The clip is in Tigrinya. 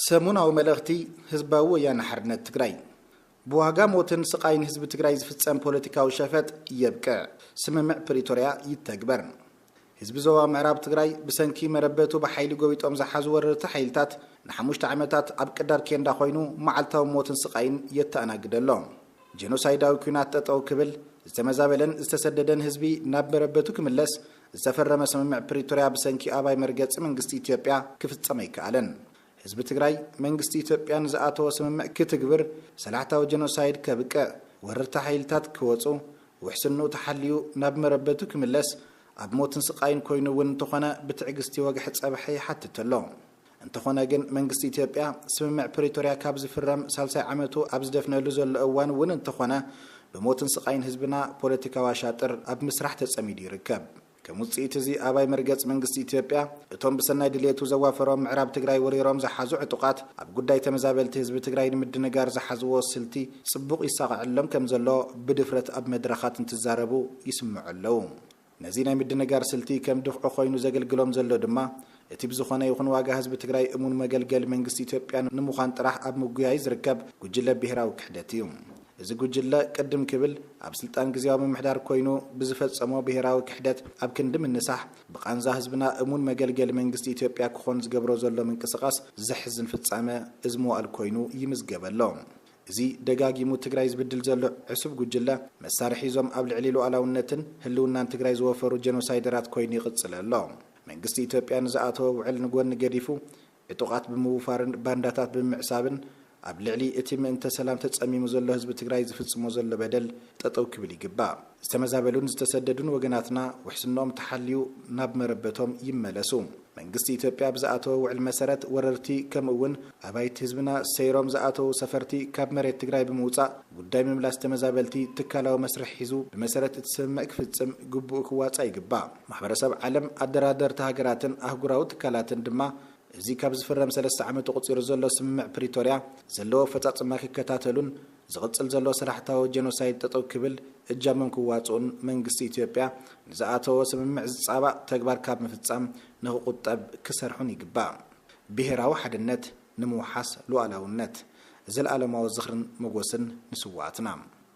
ሰሙናዊ መልእኽቲ ህዝባዊ ወያነ ሓርነት ትግራይ! ብዋጋ ሞትን ስቓይን ህዝቢ ትግራይ ዝፍፀም ፖለቲካዊ ሸፈጥ የብቅዕ፣ ስምምዕ ፕሪቶርያ ይተግበር! ህዝቢ ዞባ ምዕራብ ትግራይ ብሰንኪ መረበቱ ብሓይሊ ጎቢጦም ዝሓዙ ወረርቲ ሓይልታት ንሓሙሽተ ዓመታት ኣብ ቅዳድ ኬንዳ ኮይኑ መዓልታዊ ሞትን ስቓይን የተኣናግድ ኣሎ። ጀኖሳይዳዊ ኲናት ጠጠው ክብል፣ ዝተመዛበለን ዝተሰደደን ህዝቢ ናብ መረበቱ ክምለስ ዝተፈረመ ስምምዕ ፕሪቶርያ ብሰንኪ ኣባይ መርገፂ መንግስቲ ኢትዮጵያ ክፍፀም ኣይከኣለን። ህዝቢ ትግራይ መንግስቲ ኢትዮጵያ ንዝኣተዎ ስምምዕ ክትግብር፣ ሰላሕታዊ ጀኖሳይድ ከብቅዕ፣ ወረርቲ ሓይልታት ክወፁ፣ ውሕስንኡ ተሓልዩ ናብ መረበቱ ክምለስ፣ ኣብ ሞትን ስቃይን ኮይኑ እውን እንተኾነ ብትዕግስቲ ወግሐ ፀብሐ ይሓትት ኣሎ። እንተኾነ ግን መንግስቲ ኢትዮጵያ ስምምዕ ፕሪቶርያ ካብ ዝፍረም ሳልሳይ ዓመቱ ኣብ ዝደፍነሉ ዘሎ እዋን እውን እንተኾነ ብሞትን ስቓይን ህዝብና ፖለቲካዊ ኣሻጥር ኣብ ምስራሕ ተፀሚዱ ይርከብ። ከም ውፅኢት እዚ ኣባይ መርገፂ መንግስቲ ኢትዮጵያ እቶም ብሰናይ ድልየቱ ዘዋፈሮም ምዕራብ ትግራይ ወሪሮም ዝሓዙ ዕጡቓት ኣብ ጉዳይ ተመዛበልቲ ህዝቢ ትግራይ ንምድንጋር ዝሓዝዎ ስልቲ ፅቡቕ ይሳቐዐሎም ከም ዘሎ ብድፍረት ኣብ መድረኻት እንትዛረቡ ይስምዑ ኣለው። ነዚ ናይ ምድንጋር ስልቲ ከም ድፍዒ ኮይኑ ዘገልግሎም ዘሎ ድማ እቲ ብዝኾነ ይኹን ዋጋ ህዝቢ ትግራይ እሙን መገልገሊ መንግስቲ ኢትዮጵያ ንምዃን ጥራሕ ኣብ ምጉያይ ዝርከብ ጉጅለ ብሄራዊ ክሕደት እዩ። እዚ ጉጅለ ቅድም ክብል ኣብ ስልጣን ግዝያዊ ምምሕዳር ኮይኑ ብዝፈፀሞ ብሄራዊ ክሕደት ኣብ ክንዲ ምንሳሕ ብቓንዛ ህዝብና እሙን መገልገሊ መንግስቲ ኢትዮጵያ ክኾን ዝገብሮ ዘሎ ምንቅስቓስ ዘሕዝን ፍፃመ እዚ መዋእል ኮይኑ ይምዝገብ ኣሎ። እዚ ደጋጊሙ ትግራይ ዝብድል ዘሎ ዕሱብ ጉጅለ፣ መሳርሒ እዞም ኣብ ልዕሊ ሉኣላውነትን ህልውናን ትግራይ ዝወፈሩ ጀኖሳይደራት ኮይኑ ይቕፅል ኣሎ። መንግስቲ ኢትዮጵያ ንዝኣተዎ ውዕል ንጎኒ ገዲፉ፣ ዕጡቓት ብምውፋርን ባንዳታት ብምምዕሳብን ኣብ ልዕሊ እቲ ምእንተ ሰላም ተፀሚሙ ዘሎ ህዝቢ ትግራይ ዝፍፅሞ ዘሎ በደል ጠጠው ክብል ይግባእ። ዝተመዛበሉን ዝተሰደዱን ወገናትና ውሕስንኦም ተሓልዩ ናብ መረበቶም ይመለሱ። መንግስቲ ኢትዮጵያ ብዝኣተዎ ውዕል መሰረት ወረርቲ ከምኡ እውን ኣባይቲ ህዝብና ሰይሮም ዝኣተዉ ሰፈርቲ ካብ መሬት ትግራይ ብምውፃእ ጉዳይ ምምላስ ተመዛበልቲ ትካላዊ መስርሕ ሒዙ ብመሰረት እቲ ስምምዕ ክፍፅም ግቡኡ ክዋፃእ ይግባእ። ማሕበረሰብ ዓለም፣ ኣደራደርቲ ሃገራትን ኣህጉራዊ ትካላትን ድማ እዚ ካብ ዝፍረም ሰለስተ ዓመቱ ኣቑፂሩ ዘሎ ስምምዕ ፕሪቶርያ ዘለዎ ኣፈፃፅማ ክከታተሉን ዝቕጽል ዘሎ ስራሕታዊ ጀኖሳይድ ጠጠው ክብል እጃሞም ክዋጽኡን መንግስቲ ኢትዮጵያ ንዝኣተዎ ስምምዕ ዝጻባእ ተግባር ካብ ምፍጻም ንክቑጠብ ክሰርሑን ይግባእ። ብሄራዊ ሓድነት ንምውሓስ ሉኣላውነት። ዘልኣለማዊ ዝኽርን መጎስን ንስውኣትና!